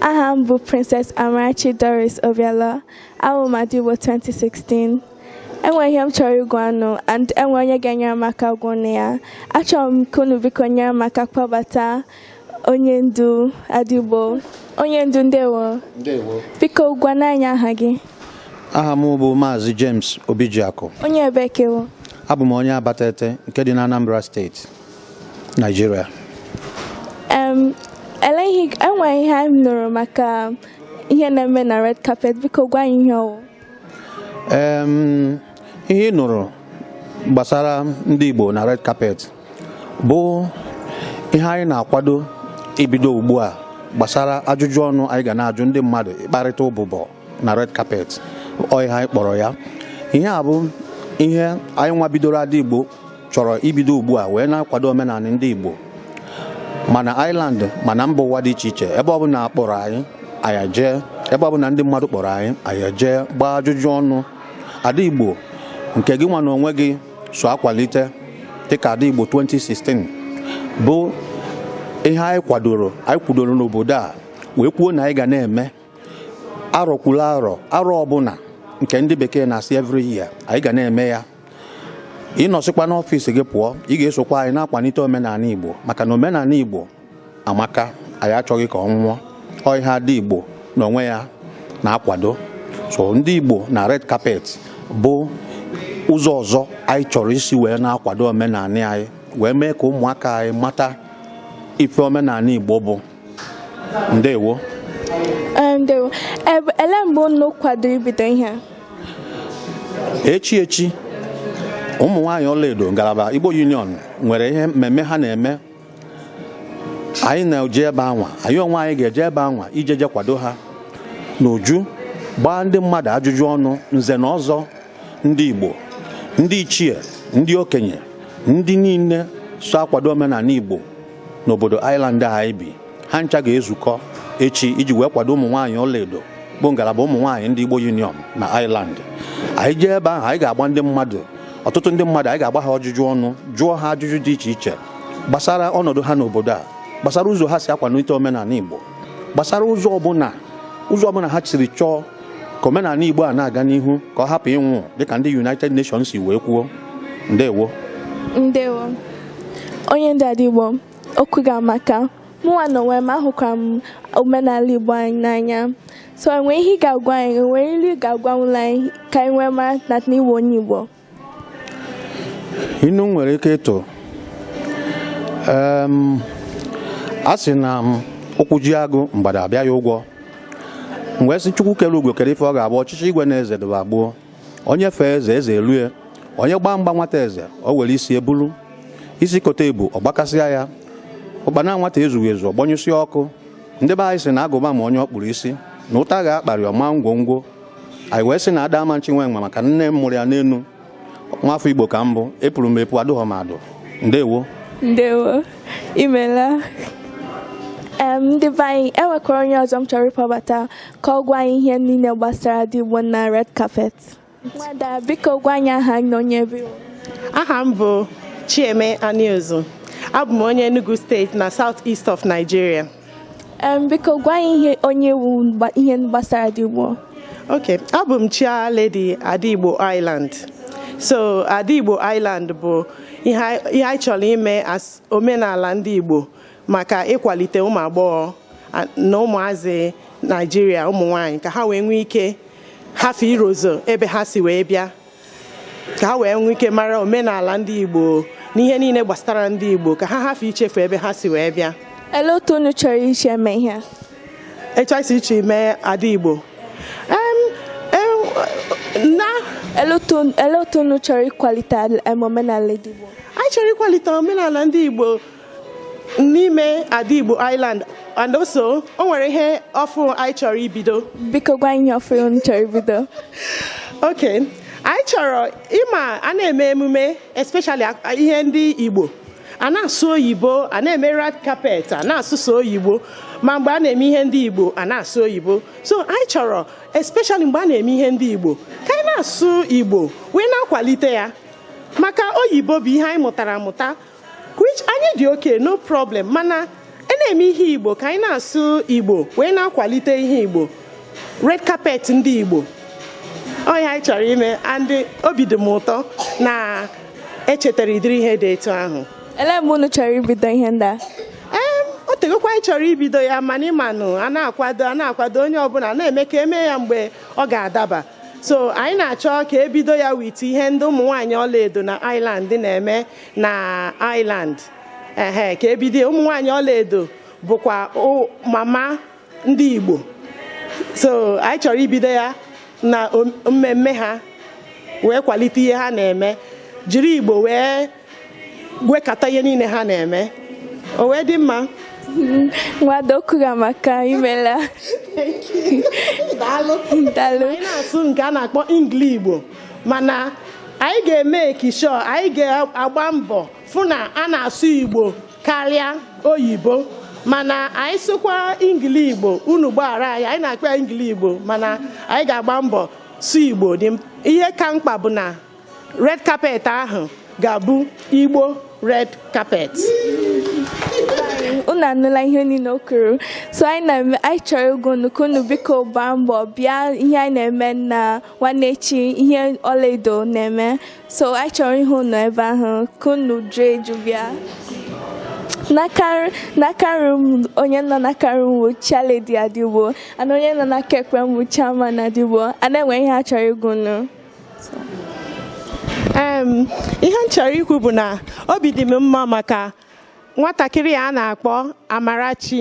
aha m bụ Princess Amarachi Doris Obiala awụ m Ada Igbo 2016 enwe ihe m chọrọ ịgwa unu and enwe onye ga-enyere m aka gwa unu ya achọrọ m ka unu biko nyere m aka kpọbata onye ndu Ada Igbo onye ndu ndewo ndewo biko gwanụ anyị aha gị aha m bụ maazị James Obijiakụ onye ebee ka ị wụ abụ m onye Abatete nke dị na Anambra steeti Nigeria. Um, ele enwe ihe m nụrụ maka ihe na-eme na red carpet biko gwa anyị ihe ọ wụ. Um, ihe ị nụrụ gbasara ndị Igbo na red carpet bụ ihe anyị na-akwado ibido ugbu a gbasara ajụjụ ọnụ anyị ga na-ajụ ndị mmadụ ịkparịta ụbụbọ na red carpet ọ ihe anyị kpọrọ ya ihe a bụ ihe anyị nwa bidoro ada igbo chọrọ ibido ugbu a wee na-akwado omenala ndị igbo ma na Ireland ma na mba ụwa dị iche iche ebe ọbụla a kpọrọ anyị anyị ejee ebe ọbụla ndị mmadụ kpọrọ anyị anyị ejee gbaa ajụjụ ọnụ ada igbo nke gị nwa na onwe gị so akwalite dịka ada igbo 2016 bụ ihe anyị kwadoro anyị kwudoro n'obodo a wee kwuo na anyị ga na-eme arọ kwuru arọ arọ ọbụla nke ndị bekee na-asị every year anyị ga na-eme ya ị nọsịkwa n'ọfịs gị pụọ ị ga-esokwa anyị na-akwalite omenala Igbo maka na omenala Igbo amaka anyị achọghị ka ọ nwụọ ọ ihe ada Igbo n'onwe ya na-akwado so ndị Igbo na red carpet bụ ụzọ ọzọ anyị chọrọ isi wee na-akwado omenala anyị wee mee ka ụmụaka anyị mata ife omenala Igbo bụ ndewo ndewo elee mgbe unu kwadoro ibido ihe a echi echi ụmụ nwaanyị ọlaedo ngalaba Igbo Union nwere ihe mmemme ha na-eme anyị na-eje ebe anwa anyị onwe anyị ga-eje ebe anwa iji jee kwado ha n'uju gbaa ndị mmadụ ajụjụ ọnụ nze na ọzọ ndị Igbo ndị ichie ndị okenye ndị niile so akwado omenala Igbo n'obodo Ireland a anyị bi ha ncha ga-ezukọ echi iji wee kwado ụmụ nwaanyị ọlaedo bụ ngalaba ụmụ nwaanyị ndị Igbo Union na Ireland anyị jee ebe ahụ anyị ga-agba ndị mmadụ ọtụtụ ndị mmadụ anyị ga-agba ha ajụjụ ọnụ jụọ ha ajụjụ dị iche iche gbasara ọnọdụ ha n'obodo a gbasara ụzọ ha si akwanite omenala Igbo gbasara ụzọ ọbụla ha siri chọọ ka omenala Igbo a na-aga n'ihu ka ọ hapụ ịnwụ dịka ndị United Nations si wee kwuo ndewo ndewo onye ndị Ada Igbo okwu ga-amaka mụnwa na onwe m ahụkwara m omenala Igbo anyị n'anya so enwe ihe ị ga-agwa anyị enwe ilu ị ga-agwanwụla anyị ka anyị wee mara na ị wụ onye Igbo inu nwere ike ịtụ a sị na ụkwụ ji agụ mgbada abịa ya ụgwọ mgbe sị Chukwu kere ugo kere ife ọ ga-abụ ọchịchị igwe na eze dịba gboo onye fee eze eze elue onye gbaa mgba nwata eze o were isi ebulu isi kote ebu ọ gbakasịa ya ụkpana nwata ezughị ezu ọ gbanyụsịa ọkụ ndị be anyị sị na agụba ma onye ọ kpụrụ isi na ụta ga-akparị ọma ngwongwo anyị wee sị na ada ama nchi nwe nwa maka nne m mụrụ ya n'enu nwafọ igbo ka m bụ epuru m epu adụghọ m adụ ndewo ndewo imela ndị be anyị enwekwara onye ọzọ m chọrọ ịkpọbata ka ọ gwa anyị ihe niile gbasara Ada Igbo na red carpet nwada biko gwa anyị aha na onye ebe aha m bụ Chieme Aniozu abụ m onye Enugu steeti na South East of Nigeria biko gwa anyị ihe onye wu ihe gbasara Ada Igbo ok abụ m Chairlady Ada Igbo Ireland so Ada Igbo Ireland bụ ihe anyị chọrọ ime as omenala ndị Igbo maka ịkwalite ụmụ agbọghọ na ụmụazị naijiria ụmụ nwanyị ka ha wee nwee ike hafe irozọ ebe ha si wee bịa ka ha wee nwee ike mara omenala ndị igbo na ihe niile gbasara ndị igbo ka ha hafe ichefu ebe ha si wee bịa ele otu unu chọrọ isi eme ihe etu anyị si eche ime ada igbo ele otu unu chọrọ ịkwalite omenala ndị igbo anyị chọrọ ịkwalite omenala ndị igbo n'ime ada Igbo Ireland and also o nwere ihe ọfụrụ anyị chọrọ ibido biko gwa anyị ọfụ unu chọrọ ibido ok anyị chọrọ ị ma a na-eme emume especially ihe ndị Igbo a na-asụ oyibo a na-eme red carpet a na-asụ sọ oyibo ma mgbe a na-eme ihe ndị Igbo a na-asụ oyibo so anyị chọrọ especially mgbe a na-eme ihe ndị Igbo ka anyị na-asụ Igbo wee na-akwalite ya maka oyibo bụ ihe anyị mụtara amụta which anyị dị ok no problem mana a na-eme ihe igbo ka anyị na-asụ igbo wee na-akwalite ihe igbo red carpet ndị igbo ọ ya anyị chọrọ ime and obi dị m ụtọ na e chetara ụdịrị ihe dị etu ahụ ele mgbe unu chọrọ ibido ihe ndị a ee o tegokwa anyị chọrọ ibido ya mana ị manụ a na-akwado a na-akwado onye ọbụla na-eme ka e mee ya mgbe ọ ga-adaba so anyị na-achọ ka e bido ya with ihe ndị ụmụ nwaanyị ọlaedo na Ireland na-eme na Ireland ehe ka e bido ụmụ nwaanyị ọlaedo bụkwa mama ndị Igbo so anyị chọrọ ibido ya na mmemme ha wee kwalite ihe ha na-eme jiri Igbo wee gwekọta ihe niile ha na-eme o wee dị mma nwadokuga maka imela daalụ anyị na-asụ nke a na-akpọ ingli igbo mana anyị ga-emake sure anyị ga-agba mbọ fụ na a na-asụ igbo karịa oyibo mana anyị sụkwa ingili igbo unu gbaghara anyị anyị na-akpọ ya ingili igbo mana anyị ga-agba mbọ sụ igbo ihe ka mkpa bụ na red carpet ahụ ga-abụ igbo red carpet unu anụla ihe niile o kwuru so anyị chọrọ ịgwa unu ka unu biko gbaa mbọ bịa ihe anyị na-eme na nwanne echi ihe ọlaedo na-eme so anyị chọrọ ịhụ unu ebe ahụ ka unu juo eju bịa n'aka nri m onye nọ n'aka nri m bụ chairlady Ada Igbo and onye nọ n'aka ekpe m bụ chairman Ada Igbo and e nwere ihe a chọrọ ịgwa unu ihe m chọrọ ikwu bụ na obi dị m mma maka nwatakịrị a na-akpọ Amarachi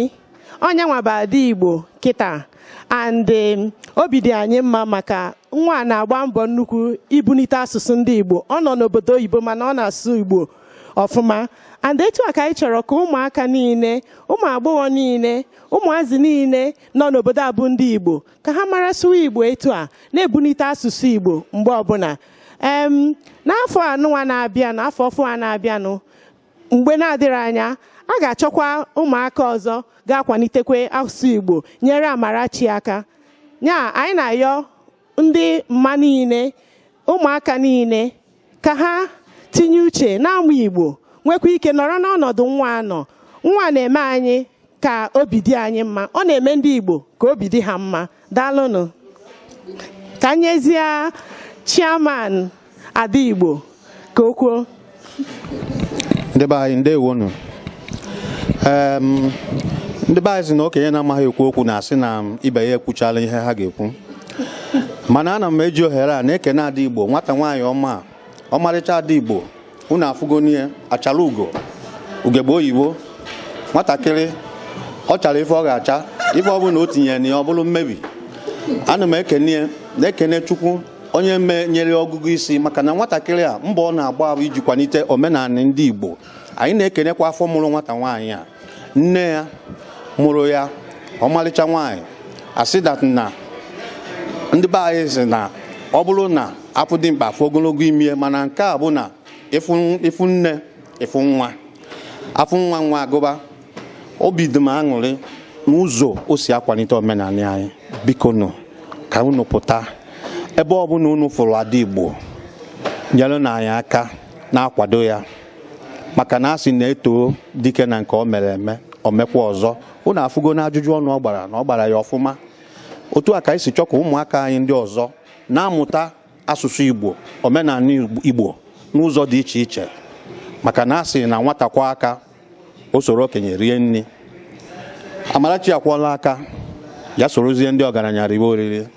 onye nwa bụ Ada Igbo kịta and um, obi dị anyị mma maka nwa na-agba mbọ nnukwu ibunite asụsụ ndị Igbo ọ nọ n'obodo oyibo mana ọ na-asụ Igbo ọfụma and etu a ka anyị chọrọ ka ụmụaka niile ụmụ agbọghọ niile ụmụazị niile nọ n'obodo a bụ ndị Igbo ka ha mara sụwa Igbo etu a na-ebunite asụsụ Igbo mgbe ọbụla n'afọ anụnwa na-abịanụ afọ ọfụ a na-abịanụ mgbe na-adịrị anya a ga-achọkwa ụmụaka ọzọ ga-akwalitekwe asụsụ Igbo nyere Amarachi aka ya anyị na-ayọ ndị mma niile ụmụaka niile ka ha tinye uche na-amụ Igbo nwekwa ike nọrọ n'ọnọdụ nwa a nọ nwa a na-eme anyị ka obi dị anyị mma ọ na-eme ndị Igbo ka obi dị ha mma daalụnụ ka nyezie chairman Ada Igbo ka o kwuo ndị be anyị ndewonu ndị be anyị sị na okenye na-amaghị ekwu okwu na-asị na ibe ya ekwuchala ihe ha ga-ekwu mana ana m eji ohere a na-ekene Ada Igbo nwata nwaanyị ọma ọmarịcha ada igbo unu afụgonụ ya achala ugo ugegbe oyibo nwatakịrị ọ chara ife ọ ga-acha ife ọ bụla o tinyere na ya ọ bụrụ mmebi ana m ekene ya na-ekene chukwu onye me nyere ọgụgụ isi maka na nwatakịrị a mbọ ọ na-agba bụ iji kwalite omenala ndị igbo anyị na-ekenekwa afọ mụrụ nwata nwaanyị a nne ya mụrụ ya ọmalịcha nwaanyị asị that na ndị be anyị sị na ọ bụrụ na afụ dimkpa afụ ogologo imi ya mana nke a bụ na ịfụ nne ịfụ nwa afụ nwa nwa agụba obi dị m aṅụrị n'ụzọ o si akwalite omenala anyị biko nụ ka unu pụta ebe ọ bụla unu fụrụ ada Igbo nyere nụ anyị aka na-akwado ya maka na a sị na e too dike na nke o mere eme o mekwa ọzọ unu afụgo na ajụjụ ọnụ ọ gbara na ọ gbara ya ọfụma otu a ka anyị si chọ ka ụmụaka anyị ndị ọzọ na-amụta asụsụ Igbo omenala Igbo n'ụzọ dị iche iche maka na a sị na nwata kwọọ aka o soro okenye rie nri Amarachi akwọla aka ya sorozie ndị ọgaranya riwe oriri